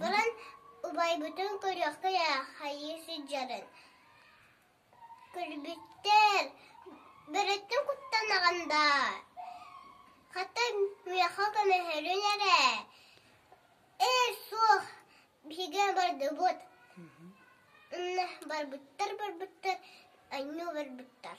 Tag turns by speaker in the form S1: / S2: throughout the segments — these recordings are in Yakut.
S1: Баран убайбытын көрүөххэ ээ хайыы сылдьарын. Көрбүттэр, бөрөттүн куттанаҕын даа. Хата миэхэ көмөһөрүн эрэ. Ээ суох, биһиги бардыбыт. Ынна барбыттар-барбыттар, анньыы барбыттар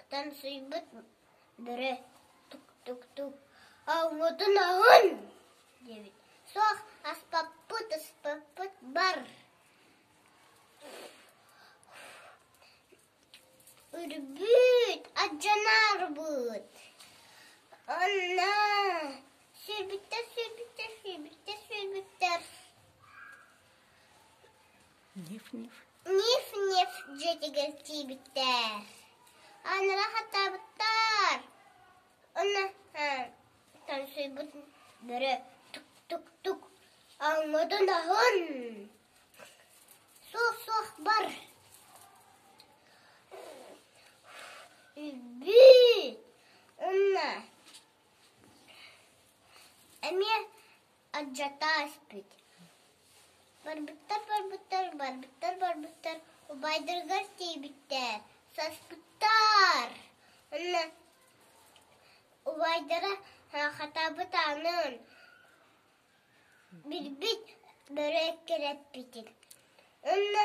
S1: Ытамсыйбыт бүрэ тук-тук-тук «Оммутун оһун!» диэбит Суох, аспаппыт, ыспаппыт бар Үрбүт, адьынаарбыт Онно сүүрбүттэр, сүүрбүттэр, сүүрбүттэр, сүүрбүттэр Ниф-ниф дьиэтигэр тиийбиттэр. Анара хатаабыттар. Онно тансыйбыт бөрө тук-тук-тук аҥмытын аһын. Суох-суох бар. Би. Онно эмиэ Алдьатта ааспыт Барбыттар-барбыттар, барбыттар-барбыттар, убайдарыгар тиийбиттэр. Саспыттар! Онно убайдара хатабыт аанын билбит бөрө эккирэппитин. Онно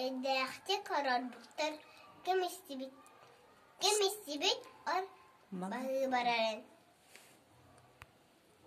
S1: Эйдээхтик олорбуттар ким истибит ким истибит ол барыыбарарын